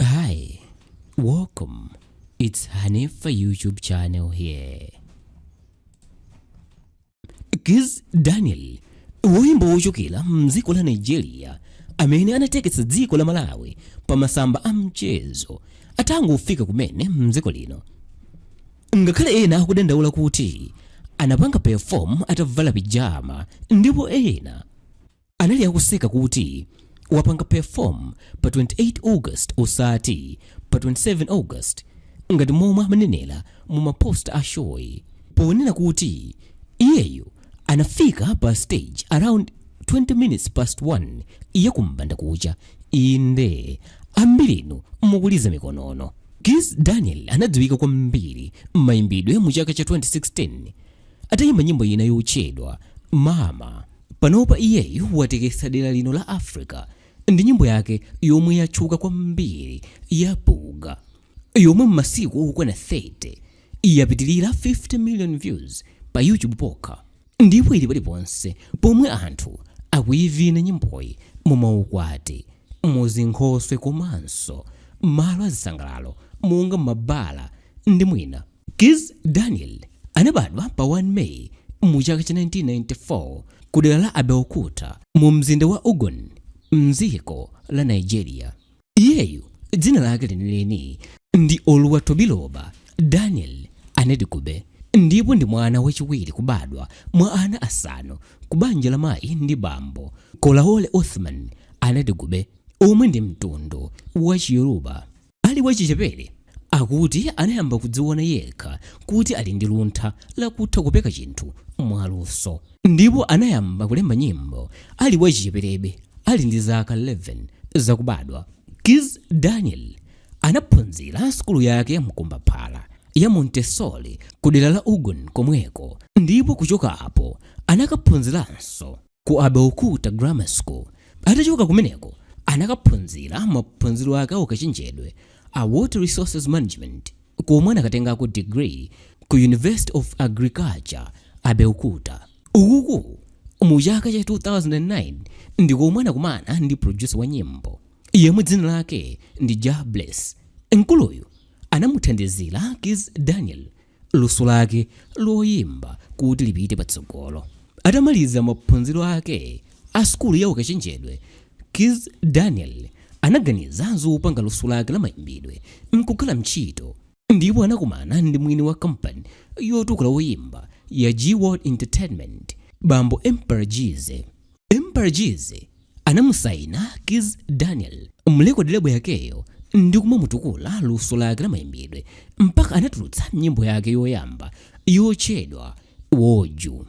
Hi, welcome. It's Hanifa YouTube channel here. Kiz Daniel, woyimba wochokera mdziko la Nigeria amene anatekesa dziko la Malawi pa masamba a mchezo atangofika kumene mdziko lino. Ngakhale ena akudandaula kuti anapanga perform atavala pijama ndipo ena anali akuseka kuti wapanga perform pa 28 august osati pa 27 august ngati momwe amanenera mu mapost a shoyi ponena kuti iyeyo anafika pa stage around 20 minutes past 1 ya kumbandakucha inde ambirinu mukuliza mikonono Kizz Daniel anadziwika kwambiri m'mayimbidwe a mu chaka cha 2016 atayimba nyimbo ina yotchedwa mama Panopa iyeyu watekesa dera lino la Africa ndi nyimbo yake yomwe yatchuka kwambiri ya Buga yomwe m'masiku okwana 30 yapitilira 50 million views pa YouTube pokha ndipo ili paliponse pomwe anthu akuyivina nyimboyi mu maukwati, mu zinkhoswe komanso malo azisangalalo monga m'mabala ndi mwina. Kizz Daniel anabadwa pa 1 May mu chaka cha 1994 ku dera la Abeokuta mu mzinda wa Ogun mdziko la Nigeria. Iyeyu dzina lake lenileni ndi Oluwatobiloba Daniel Anidugbe ndipo ndi mwana wachiwiri kubadwa mwa ana asanu ku banja la mayi ndi bambo Kolawole Othman Anidugbe omwe ndi mtundu wa Chiyoruba. Ali wachichepere, akuti anayamba kudziwona yekha kuti ali ndi luntha la kutha kupeka chinthu mwaluso, ndipo anayamba kulemba nyimbo ali wachicheperebe, ali ndi zaka 11 zakubadwa. Kizz Daniel anaphunzira sukulu yake ya mkombaphala ya Montessori kudera la Ogun komweko, ndipo kuchoka apo anakaphunziranso. ku Abeokuta Grammar School. Atachoka kumeneko anakaphunzira maphunziro ake a ukachenjedwe a Water Resources Management komwe anakatengako degree ku University of Agriculture, Abeokuta. Ukuku mu chaka cha 2009 ndi komwe anakumana ndi producer wa nyimbo yemwe dzina lake ndi Jahbless. Mkuluyu anamuthandizira Kizz Daniel luso lake loyimba kuti lipite patsogolo. Atamaliza maphunziro ake a sukulu ya ukachenjedwe, Kizz Daniel anaganiza zopanga luso lake la mayimbidwe nkukhala ntchito ndipo anakumana ndi mwini wa kampani yotukula oyimba ya G World Entertainment, bambo Emperor Geezy. Emperor Geezy anamusaina Kizz Daniel m'record label yakeyo ndi kumamutukula luso lake la mayimbidwe mpaka anatulutsa nyimbo yake yoyamba yotchedwa Woju.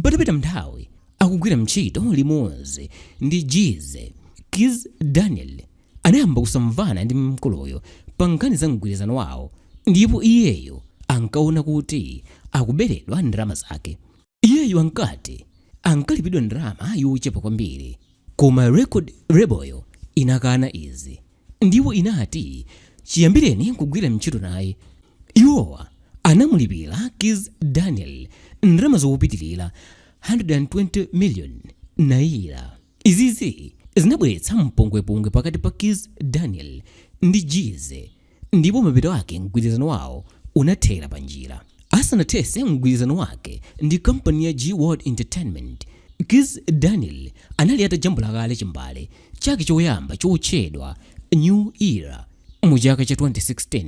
Patapita nthawi akugwira ntchito limodzi ndi Geezy, Kizz Daniel anayamba kusamvana ndi mkuluyo pa nkhani za mgwirizano wawo ndipo iyeyo ankaona kuti akuberedwa ndalama zake. Iyeyu ankati ankalipidwa ndalama yochepa kwambiri koma record label'yo inakana izi ndipo inati chiyambireni kugwira ntchito naye, iwowa anamulipira Kizz Daniel ndalama zokupitilira 120 million naira. Izizi zinabweretsa mpungwepungwe pakati pa Kizz Daniel ndi Geezy ndipo mapeto ake mgwirizano wawo unathera panjira. Asanathese mgwirizano wake ndi kampani ya G-Worldwide Entertainment, Kizz Daniel anali atajambula kale chimbale chake choyamba chotchedwa New Era mu chaka cha 2016.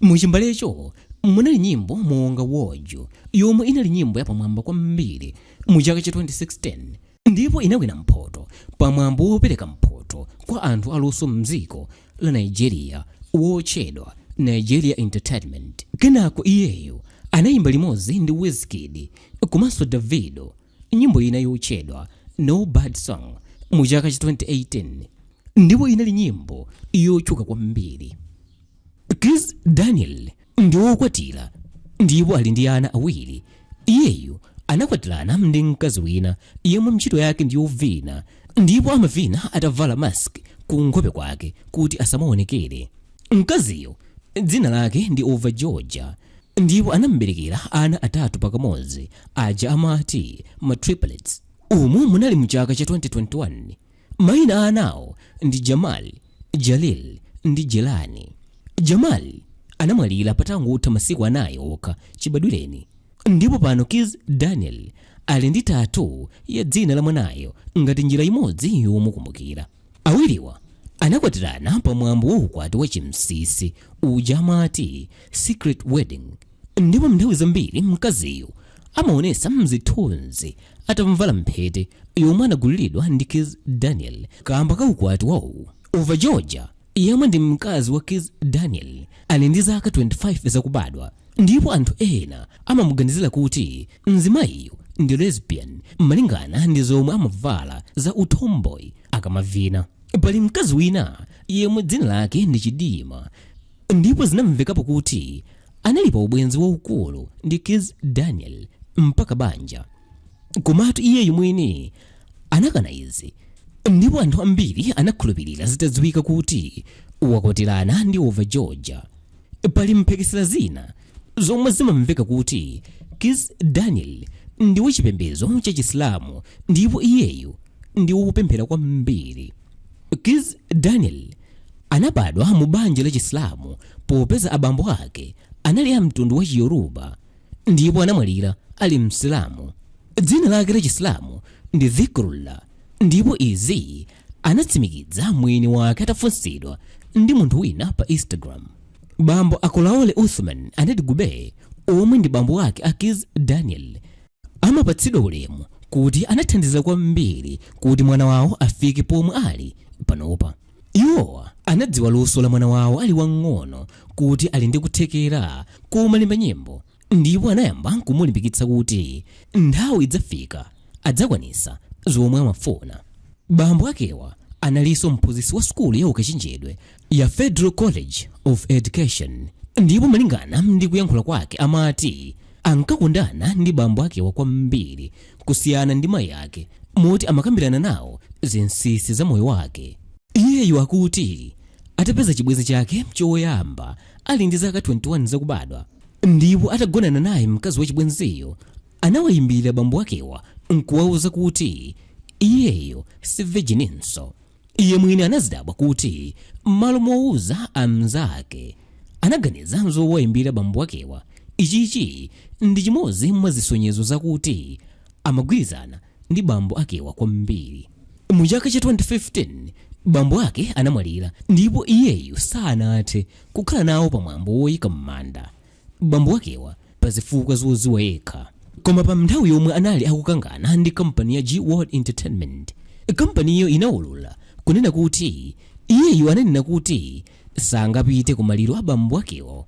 Mu chimbalecho munali nyimbo monga Woju yomwe inali nyimbo yapamwamba kwambiri mu chaka cha 2016. ndipo inawina mphoto pa mwambo wopereka mphoto kwa anthu aluso m'dziko la Nigeria wotchedwa Nigeria Entertainment. Kenako iyeyu anayimba limodzi ndi Wizkid komanso Davido nyimbo ina yotchedwa No Bad Songz mu chaka cha 2018 ndipo inali nyimbo yotchuka kwambiri. Kizz Daniel ndi wokwatira ndipo ali ndi ana awiri. Iyeyu anakwatirana ndi mkazi wina yemwe ntchito yake ndi yovina ndipo amavina atavala mask ku nkhope kwake kuti asamaonekere. Mkaziyo dzina lake ndi Ova Georgia ndipo anam'berekera ana atatu pakamodzi aja amati ma triplets. Umu munali mu chaka cha 2021. Maina a anawo ndi Jamal, Jalil ndi Jelani. Jamal anamwalira patangotha masiku anayi okha chibadwireni ndipo pano Kizz Daniel ali ndi tattoo ya dzina la mwanayo ngati njira imodzi yomukumbukira. Awiriwa anakwatirana pa mwambo wa ukwati wachinsinsi uja amati secret wedding. ndipo m'nthawi zambiri mkaziyu amaonesa mzithunzi atamvala mphete yomwe anagulilidwa ndi Kizz Daniel kaamba ka ukwati wawo. Ova Georgia yemwe ndi mkazi wa Kizz Daniel ali ndi zaka 25 zakubadwa ndipo anthu ena amamuganizila kuti mzimayiyu ndi lesbian malingana ndi zomwe amavala za utomboy akamavina. Pali mkazi wina yemwe dzina lake ndi Chidinma Ndipo zinamvekapo kuti anali pa ubwenzi waukulu ndi Kizz Daniel mpaka banja. Komatu iyeyu mwini anakana izi ndipo anthu ambiri anakhulupilira zitadziwika kuti wakwatirana ndi Overgeorgia. Pali mphekesera zina zomwe zimamveka kuti Kizz Daniel ndi wachipembezo cha Chisilamu ndipo iyeyu ndi wopemphera kwambiri. Kizz Daniel. Anabadwa mu banja la Chisilamu popeza abambo ake anali a mtundu wa Chiyoruba ndipo anamwalira ali Msilamu. Dzina lake la Chisilamu ndi Dhikrullah ndipo izi anatsimikidza mwini wake atafunsidwa ndi munthu wina pa Instagram. Bambo a Kolaole Uthman Anidugbe omwe ndi bambo ake a Kizz Daniel, amapatsidwa ulemu kuti anathandiza kwambiri kuti mwana wawo afike pomwe ali panopa. Iwowa anadziwa luso la mwana wawo ali wang'ono kuti ali ndi kuthekera komalemba nyimbo ndipo anayamba kumulimbikitsa kuti nthawi idzafika adzakwanisa zomwe amafuna. Bambo akewa analinso mphunzitsi wa sukulu ya ukachenjedwe ya Federal College of Education ndipo malingana ndi kuyankhula kwake amati ankakondana ndi bambo akewa kwambiri kusiyana ndi mayi ake moti amakambirana nawo zinsinsi za moyo wake iyeyu akuti atapeza chibwenzi chake choyamba ali ndi zaka 21 zakubadwa ndipo atagonana naye mkazi wa chibwenziyo anawayimbira bambo akewa nkuwauza kuti iyeyo si virgininso Iye mwini anazidabwa kuti m'malo mowuza amnzake anaganiza zowayimbira bambo akewa. Ichichi ndi chimodzi mwa zisonyezo zakuti amagwirizana ndi bambo akewa kwambiri. Mu chaka cha 2015 bambo ake anamwalira ndipo iyeyu sanathe kukhala nawo pa mwambo woyika m'manda. bambo wakewa pa zifukwa zoziwa yekha koma pa nthawi yomwe anali akukangana ndi kampani ya g world entertainment kampaniyo inaulula kunena kuti iyeyu ananena kuti sangapite ku maliro a bambo wakewo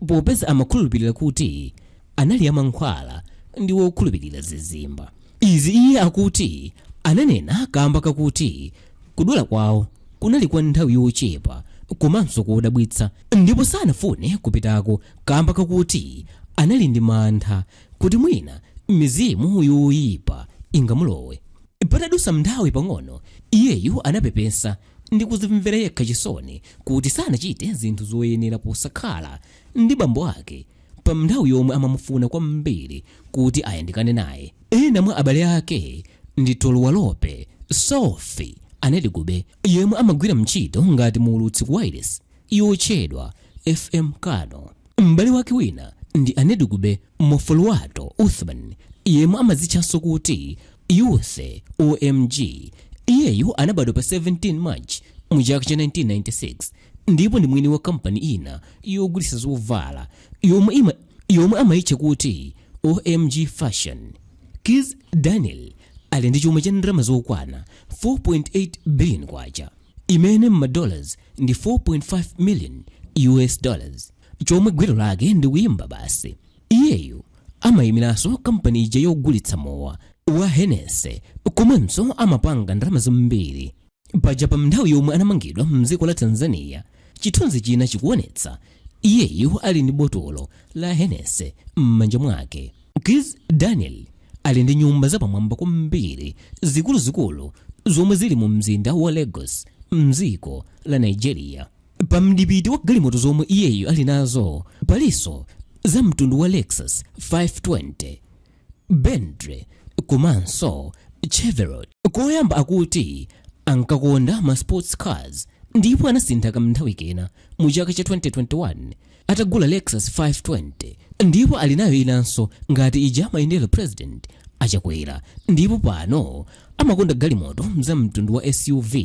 popeza amakhulupirira kuti anali amankhwala ndi wokhulupirira zizimba izi iye akuti ananena kamba kakuti Kudwala kwawo kunali kwa nthawi yochepa komanso kodabwitsa ndipo sanafune kupitako kaamba kakuti anali ndi mantha kuti mwina mizimu yoipa ingamulowe. Patadutsa nthawi pang'ono, iyeyu anapepesa ndi kudzimvera yekha chisoni kuti sanachite zinthu zoyenera posakhala ndi bambo ake. Pa nthawi yomwe amamufuna kwambiri kuti ayandikane naye, ena mwa abale ake ndi Toluwalope Sofi Anidugbe, yemwe amagwira ntchito ngati muulutsi ku wailesi yotchedwa FM Kano. M'bale wake wina ndi Anidugbe Mofoluwato Uthman, yemwe amadzitchanso kuti Uthy OMG. Iyeyu anabadwa pa 17 March mu chaka cha 1996. ndipo ndi mwini wa kampani ina yogulitsa zovala yomwe ima yomwe amayitcha kuti omg fashion kizz daniel ali ndi chuma cha ndalama zokwana 4.8 billion kwacha imene m'madollars ndi 4.5 million us dollars chomwe gwero lake ndi kuyimba basi iyeyu amayimiranso kampani ija yogulitsa mowa wa hennessy komanso amapanga ndalama zambiri paja pa nthawi yomwe anamangidwa mdziko la tanzania chithunzi china chikuonetsa iyeyu ali ndi botolo la hennessy m'manja mwake kizz daniel ali ndi nyumba zapamwamba kwambiri zikuluzikulu zomwe zili mu mzinda wa lagos mdziko la nigeria pa mdipiti wa galimoto zomwe iyeyu ali nazo palinso za mtundu wa lexus 520 Bentley komanso Chevrolet. Koyamba akuti ankakonda ma sports cars ndipo anasintha kamnthawi kena mu chaka cha 2021 atagula Lexus 520 ndipo ali nayo inanso ngati ija amayendera President a Chakwera ndipo pano amakonda galimoto za mtundu wa SUV.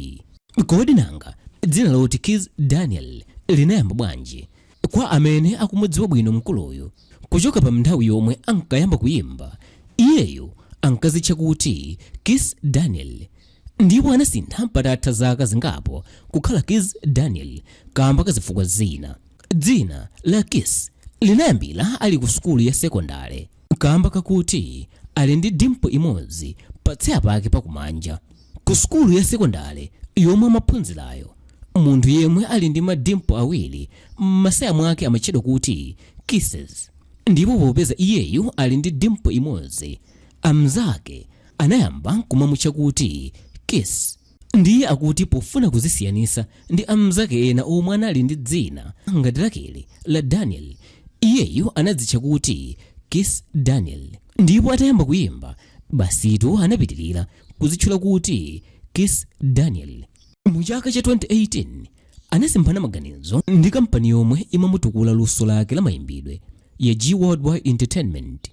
Kodi nanga dzina loti Kiss Daniel linayamba bwanji? Kwa amene akumudziwa bwino mkuluyu, kuchoka pa mnthawi yomwe ankayamba kuyimba, iyeyu ankazitcha kuti Kiss Daniel ndipo anasintha patatha zaka zingapo kukhala Kizz Daniel kamba ka zifukwa zina. Dzina la Kiss linayambira ali ku sukulu ya sekondale kamba kakuti ali ndi dimple imodzi pa tsaya pake pa kumanja. Ku sukulu ya sekondale yomwe amaphunzirayo, munthu yemwe ali ndi ma dimple awiri m'masaya mwake amatchedwa kuti Kisses ndipo popeza iyeyu ali ndi dimple imodzi, amnzake anayamba kumamutcha kuti Kiss. Ndiye akuti pofuna kuzisiyanisa ndi amnzake ena omwe anali ndi dzina ngati lakeli la Daniel, iyeyu anadzitcha kuti Kiss Daniel. Ndipo atayamba kuyimba, basitu anapitilira. kuzitchula kuti Kiss Daniel. Mu chaka cha 2018 anasemphana maganizo ndi kampani yomwe imamutukula luso lake la mayimbidwe ya G Worldwide Entertainment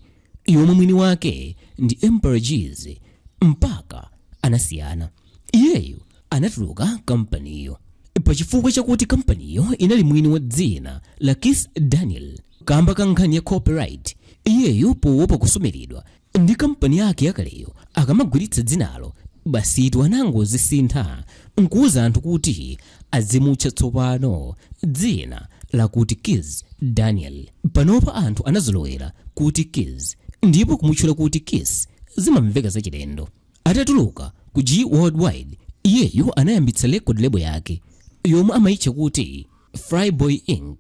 yomwe mwini wake ndi Emperor Geezy mpaka anasiyana. Iyeyu anatuluka kampaniyo pa chifukwa chakuti kampaniyo inali mwini wa dzina la Kiss Daniel kamba ka nkhani ya copyright. Iyeyu powopa kusumiridwa ndi kampani yake yakaleyo akamagwiritsa dzinalo basitu anangozisintha nkuuza anthu kuti azimutcha tsopano dzina lakuti kizz daniel panopa anthu anazolowera kuti kizz ndipo kumutchula kuti kiss zimamveka zachilendo atatuluka ku g worldwide iyeyo anayambitsa record label yake yomwe amayitcha kuti flyboy inc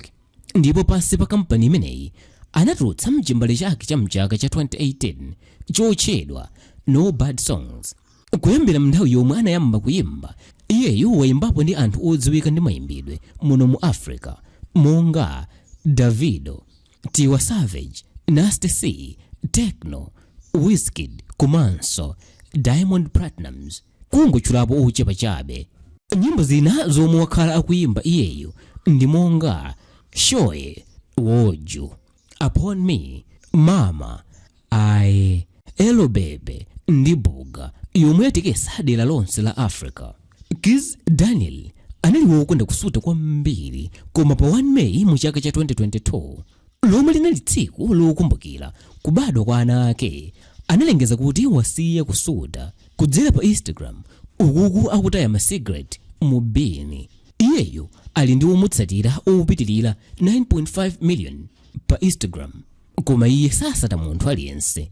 ndipo pansi pa kampani imeneyi anatulutsa chimbale chake cha mchaka cha 2018 chotchedwa no bad songs kuyambira mnthawi yomwe anayamba kuyimba iyeyu wayimbapo ndi anthu odziwika mmayimbidwe muno mu africa monga davido tiwa savage nasty c tekno wizkid komanso diamond platnumz kungotchulapo ochepa chabe. Nyimbo zina zomwe wakhala akuyimba iyeyu ndi monga Shoye, Woju, Upon Me, Mama, Laye, Laye Yeba ndi Buga yomwe yatekesa dera lonse la Africa. Kizz Daniel anali wokonda kusuta kwambiri koma pa 1 May mu chaka cha 2022, lomwe linali tsiku lokumbukira kubadwa kwa ana ake, analengeza kuti wasiya kusuta. Kudzera pa Instagram, uku akutaya ma cigarette mu bini. Iyeyu ali ndi omutsatira opitirira 9.5 million pa Instagram, koma iye sasata munthu aliyense.